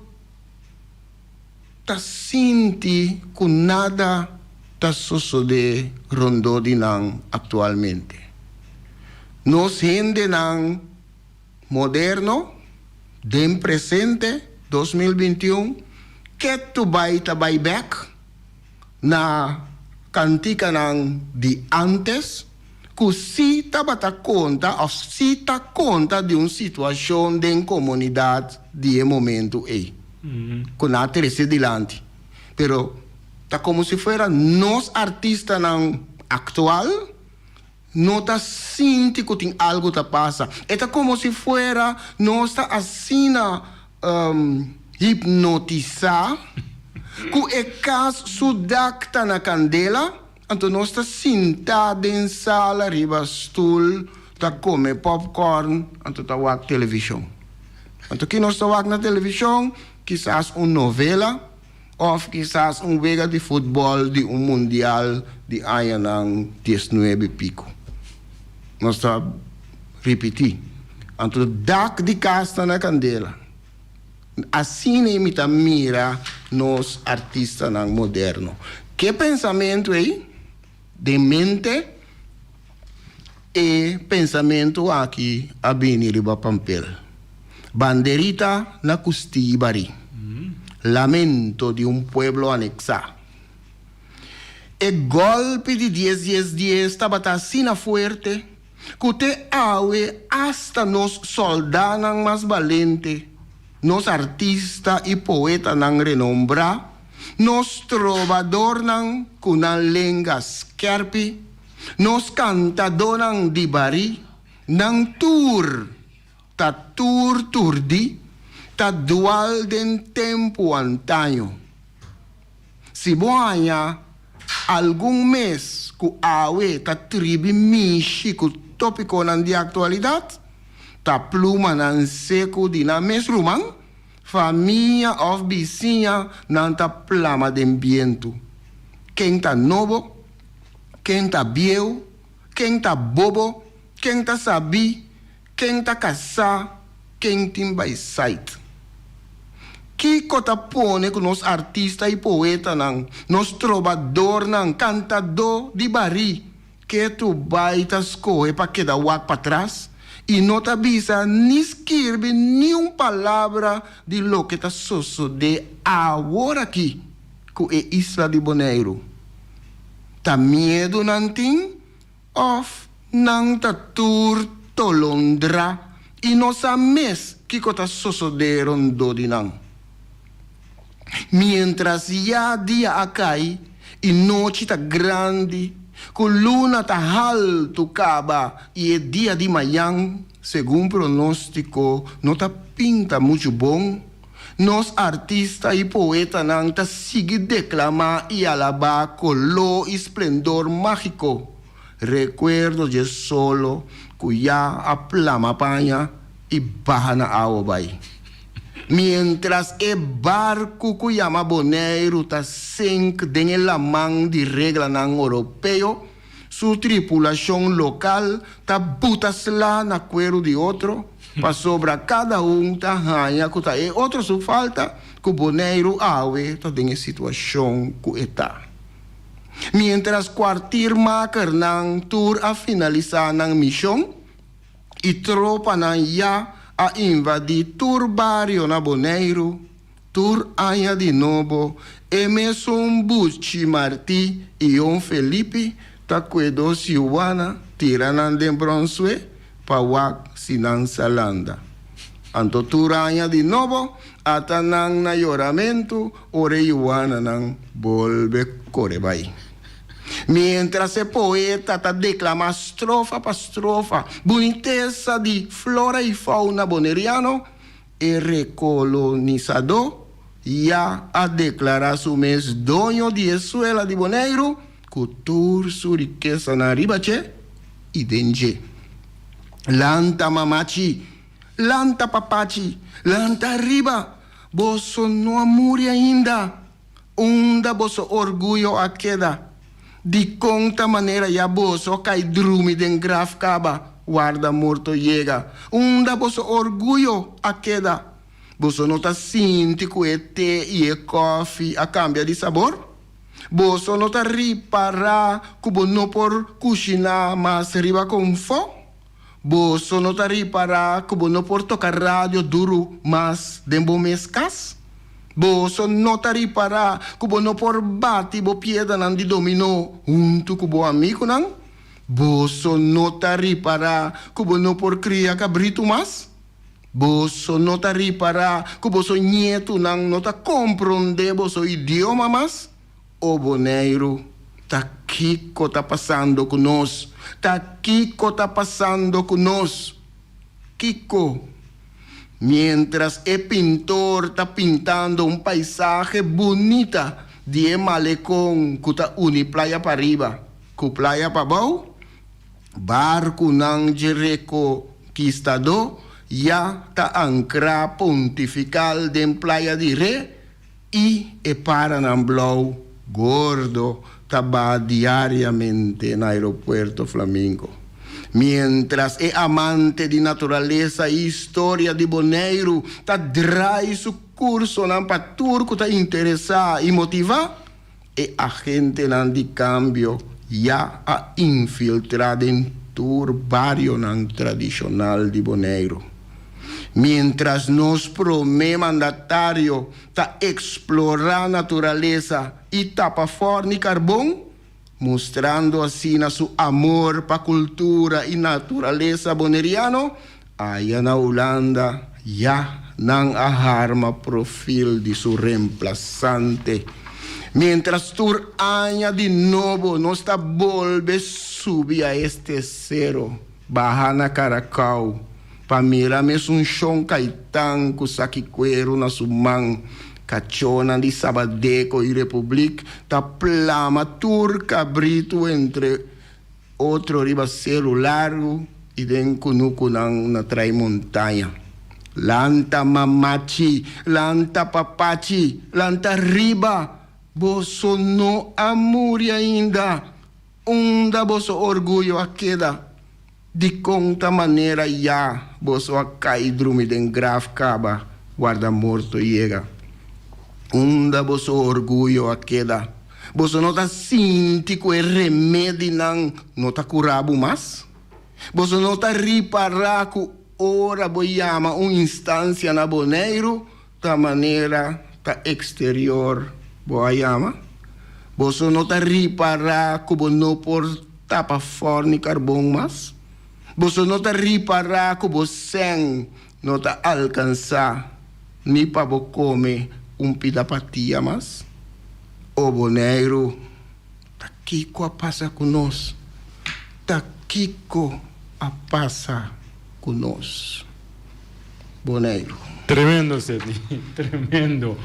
ta sinti ku nada ta sosodé rondó di nan aktualmente. Nos hendenan moderno den presente dos mil binti un ke tu bai ta bai bèk. na kanticanan di antes cu si tabata conta of si ta conta di un situacion den comunidad di e momento ey cu nan a trece dilanti. Pero ta como si fuera nos artistanan actual No ta sinti cu tin algo ta pasa. E ta como si fuera nos ta asina hipnotisa cu e cas su dak ta na candela, anto nos ta sinta den sala riba stoel ta come popcorn anto ta wak television. Anto ki nos ta wak na television? Kisas un novela. Òf kisas un wega di futbòl di un mundial di añanan diesnuebe pico. Nos ta ripití, anto dak di kas ta na kandela. Asina mi ta mira nos artistanan moderno. Ke pensamentu ei den mente? E pensamentu aki a bini riba pampel, Banderita na custiba ri lamento di un pueblo anexa. E golpi di dies dies dies tabata asina fuerte cu te awe hasta nos soldanan mas balente, nos artista y poetanan renombra, nos trobadornan cu nan lenga skerpi, Nos kantadonan di bari nan tur ta tur turdi, ta dual den tempu antaño. Si bo haña algun mes ku awe ta tribi mishi ku topikonan di aktualidat, ta plumanan seku di nan mes ruman, famia òf bisiña nan ta plama den bientu. Ken ta nobo Ken ta bieu? Ken ta bobo? Ken ta sabí? Ken ta kasá? Ken tin bai sait? Kiko ta pone ku nos artista i poetanan, nos trobadornan, kantadó di barí, ke tu bai ta skohe pa keda wak patras i no ta bisa ni skirbi niun palabra di loke ta sosodé aworakí? ku e isla di Boneiru? Ta miedu nan tin òf nan ta tur tolondra i no sa mes kiko ta sosodé rondó di nan? Miéntras ya dia a kai i nochi ta grandi, ku luna ta haltu kaba i e dia di mayan, Segun pronostico no ta pinta mucho bon, nos artista y poetanan ta sigui declama y alaba colo y splendor magico, recuerdo dje solo cu ya a plama paña y baha na awa bay. Mientras e barcu cu yama Boneiru ta sink den e laman di reglanan Oropeo, Su tripulacion local ta buta sla na cuero di otro, pasobra cada un ta haña cu ta e otro su falta cu Boneiru awe ta den e situacion cu e ta. Mientras cuartiermakernan tur a finalisa nan mision y tropanan ya a invadi tur bario na Boneiru, Tur aña di nobo, e mesun buchi Marti i Jon Felipi ta kue dos yuana tira nan den Bronswe pa wak si nan sa landa. Anto tur aña di nobo ata nan na yoramentu ora e yuananan bolbe kore bai. Mientras e poeta ta declama strofa pa strofa bunitesa di flora i fauna boneriano, E rekolonisadó ya a deklará su mes doño di e suela di Boneiru ku tur su rikesanan ariba dje i den dje. Lanta mamachi! Lanta papachi! Lanta ariba! Boso no a muri ainda! Unda boso orguyo a keda? Dikon ta manera ya boso kai drumi den graf kaba warda morto yega? Unda boso orguyo a keda? Boso no ta sinti ku e te i e kòfi a kambia di sabor? Boso no ta ripará ku bo no por kushiná mas riba kon fo? Bo so no ta ripará ku bo no por toka radio duru mas den bo mes kas? Bo so no ta ripará ku bo no por bati bo piedanan di dominó huntu ku bo amigunan? Bo so no ta ripará ku bo no por kria kabritu mas? Bo so no ta ripará ku boso ñetunan no ta komprondé boso idioma mas? O Boneiru, ta kiko ta pasando ku nos? Ta kiko ta pasando ku nos? Kiko? Mientras e pintor ta pintando un paisahe bunita di e malekon ku ta uni playa pariba ku playa pabou, barkunan dje rekonkistadó ya ta ankrá pontifikal den playa di Re I e paranan blou gordo ta ba diariamente na Aeropuerto Flamingo. Mientras e amante di naturalesa i historia di Boneiru ta drai su cursonan pa tur cu ta interesa i motiva, E agentenan di kambio ya a infiltrá den tur barionan tradishonal di Boneiru. Miéntras nos promé mandatario ta eksplorá naturalesa i tapa for ni karbon, mustrando asina su amor pa kultura i naturalesa boneriano, Aya na Hulanda, ya nan a harma profil di su remplasante. Mientras tur aña di nobo nos ta bolbe subi a e stesero, baha na Caracao, pa mira mesun Shon Caitan cu saki cuero na su man, cachonan di Sabadeco y Republiek ta plama tur cabrito entre Otro riba seru largu i den kunukunan na trai montaña. Lanta mamachi, lanta papachi, lanta riba! Boso no a muri ainda! Unda boso orguyo a keda? Dikon ta manera ya boso a kai drumi den graf kaba warda morto yega? Unda boso orguyo a keda? Boso no ta sinti ku e remedinan no ta kurá bo mas? Boso no ta ripará ku ora bo yama un instansia na Boneiru ta manera ta eksterior bo a yama? Boso no ta ripará ku bo no por tapa fòrnikarbon mas? Boso no ta ripará ku bo sèn No ta alkansá ni pa bo kome un pida patia mas? O Boneiru, ta kiko a pasa ku nos? Ta kiko a pasa ku nos? Boneiru. Tremendo Seti, tremendo.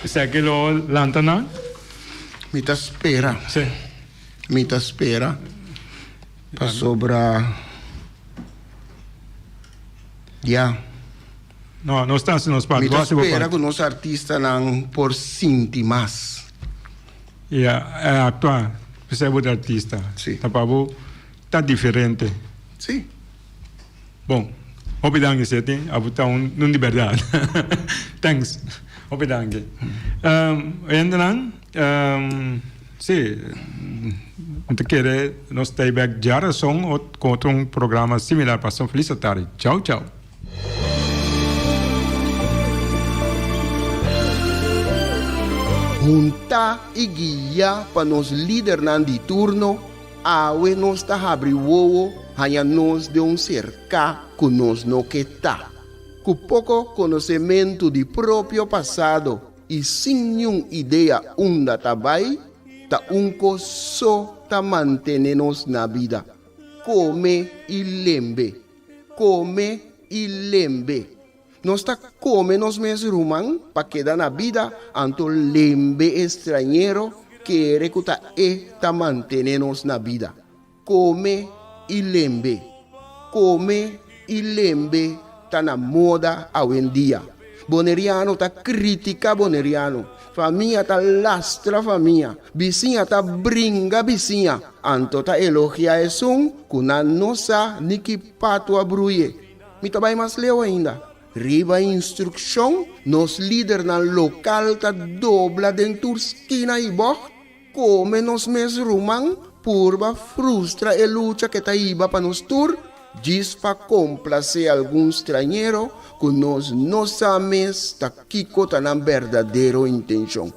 Esaki lo lanta nan? Mi ta spera. Sí. Mi ta spera. Pasobra ya. No, nos ta hasi nos parti. Mi ta spera ku nos artistanan por sinti mas. Ya, e aktua, p'esei bo ta artista. Si. Ta pa bo ta diferente. Si. Bon, hopi danki Seti, abo ta un nun di berdad. Thanks. Hopi danki. Um, oyentenan, um, si, mi ta kere nos stay back dja rason ot, con otro un programa similar paso. Feliz atardi. Chao, chao. Hunta y guia pa nos lidernan di turno. Awe nos ta habri wowo haña nos den un serká ku nos no ke ta. Ku poko konosementu di propio pasado i sin niun idea unda ta bai, ta un kos so ta mantené nos na bida, kome i lembe, kome i lembe. Nos ta kome nos mes ruman pa keda na bida, anto lembe e strañero kere ku ta e ta mantene nos na bida. Kome i lembe. Kome i lembe ta na moda awendia. Boneriano ta kritika Boneriano, famia ta lastra famia, bisiña ta bringa bisiña, anto ta elogia esun ku nan no sa ni ki patu a bruye. Mi ta bai mas leu ainda. Riba e instrukshon, nos lidernan lokal ta dobla den tur skina i bògt, kome nos mes ruman purba frustra e lucha ke ta hiba pa nos tur djis pa komplasé algun strañero ku nos no sa mes ta kiko ta nan berdadero intenshon.